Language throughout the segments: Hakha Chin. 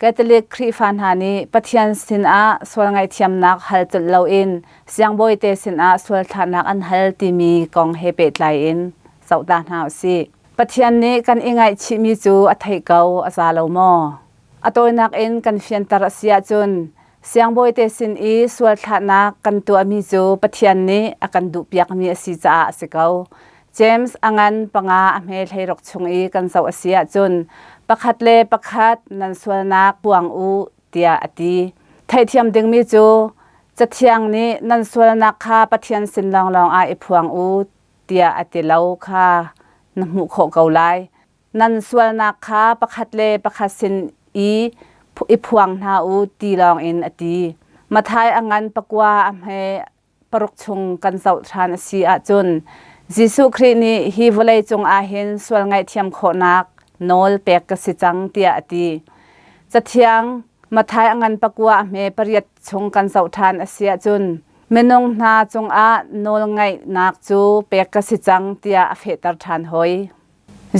Catholic Khrihfa hna nih Pathian sinah sual ngaihthiamnak hal colh loin siangbawite sinah sual thlahnak an hal timi kong he pehtlai in zohta hna u sih. Pathian nih kan i ngaihchihmi cu a theih ko a za lo maw? A tawinak in kan fianter a si ahcun Siangbawite sin i sual thlahnak kan tuahmi cu Pathian nih a kan duhpiakmi a si caah a si ko. James a ngan panga a hme hleirok chung i kan zoh a si ahcun pakhat le pakhat nan sualnak puang u tiah a ti. Theihthiam dingmi cu Cathiang nih nan sualnak kha Pathian sin lawnglawng ah i phuang u tiah a ti lo kha na hmuh khawh ko lai. nan sualnak kha pakhat le pakhat sin i i phuang hna u ti lawngin a ti. Mathai a ngan pakua a hme paruk chung kan zoh ṭhan a si ahcun Jesuh Khrih nih hi vawlei cungah hin sual ngaihthiam khawhnak nawl pek ka si cang tiah a ti. Cathiang Mathai a ngan pakua a hme pariat chung kan zoh ṭhan a si ahcun minung hna cungah nawlngaihnak cu pek ka si cang tiah a fehter ṭhan hoi.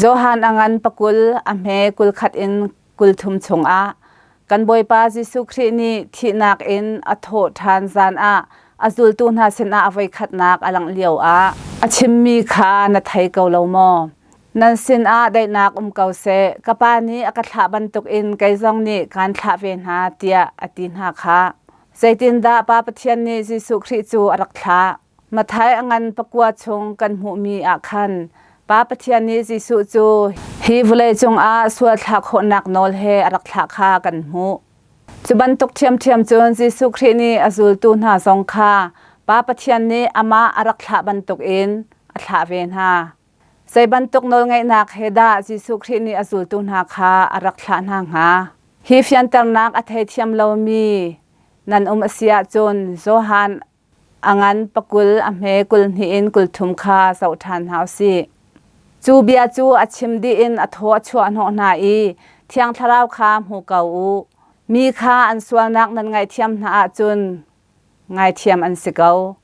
Johan a ngan pakul a hme kul khat in kul thum chungah kan Bawipa Jesuh Khrih nih thihnak in a thawh ṭhan zan ah a zultu hna sinah voikhatnak a langh lioah a chimmi kha na thei ko lo maw? Nan sinah daihnak um ko seh, ka Pa nih a ka thlah bantukin kei zong nih kaan thlah ve hna, tiah a ti hna khah. Zeitindah Pa Pathian nih Jesuh Khrih cu a rak thlah? Mathai a ngan pakua chung kan hmuhmi ah khan Pa Pathian nih Jesuh cu hi vawleicung ah sualthlak khawhnak nawl he a rak thlah kha kan hmuh. Cu bantuk ṭhiamṭhiam cun Jesuh Khrih nih a zultu hna zong kha Pa Pathian nih amah a rak thlah bantukin a thlah ve hna. Zei bantuk nawlngeihnak he dah Jesuh Khrih nih a zultu hna kha a rak thlah hna hnga? Hi fianternak a theithiam lomi nan um a si ahcun Johan A ngan pakul a hme kul hnih in kul thum kha zoh ṭhan hna u sih. Cu bia cu a chim dih in a thaw a chuah hnawh hna i Thiang Thlarau kha hmu ko u. Mi kha an sualnak nan ngaihthiam hna ahcun ngaithiam an si ko.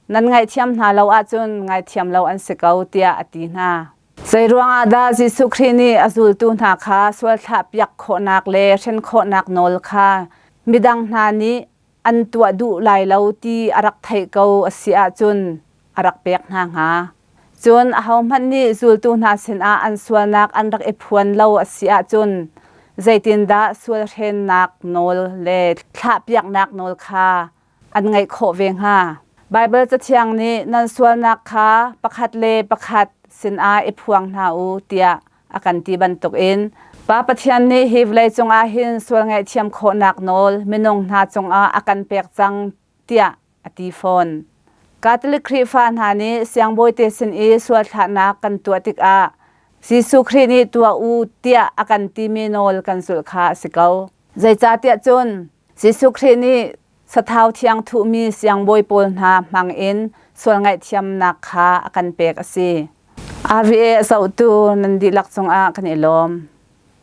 Nan ngaihthiam hna lo ahcun ngaithiam lo an si ko, tiah a ti hna. Zei ruangah dah Jesuh Khrih nih a zultu hna kha sual thlahpiak khawhnak le hren khawhnak nawl kha midang hna nih an tuah duh lai lo ti a rak theih ko a si ahcun a rak pek hna hnga. Cun ahohmanh nih zultu hna sinah an sualnak an rak i phuan lo a si ahcun zeitindah sualhrennak nawl le thlahpiaknak nawl kha an ngaih khawh ve hnga? Baibal Cathiang nih nan sualnak kha pakhat le pakhat sinah i phuang hna u tiah a kan ti bantukin Pa Pathian nih hi vawlei cungah hin sual ngaihthiam khawhnak nawl minung hna cungah a kan pek cang tiah a ti fawn. Catholic Khrihfa hna nih siangbawite sin i sual thlahnak kan tuah tikah Jesuh Khrih nih tuah u tiah a kan timi nawl kan zulh kha a si ko. Zeicahtiah cun Jesuh Khrih nih sathau thiang thuhmi siangbawi pawl hna hmangin sual ngaihthiamnak kha a kan pek a si. Ari a zohtu nan dihlak cungah kan i lawm.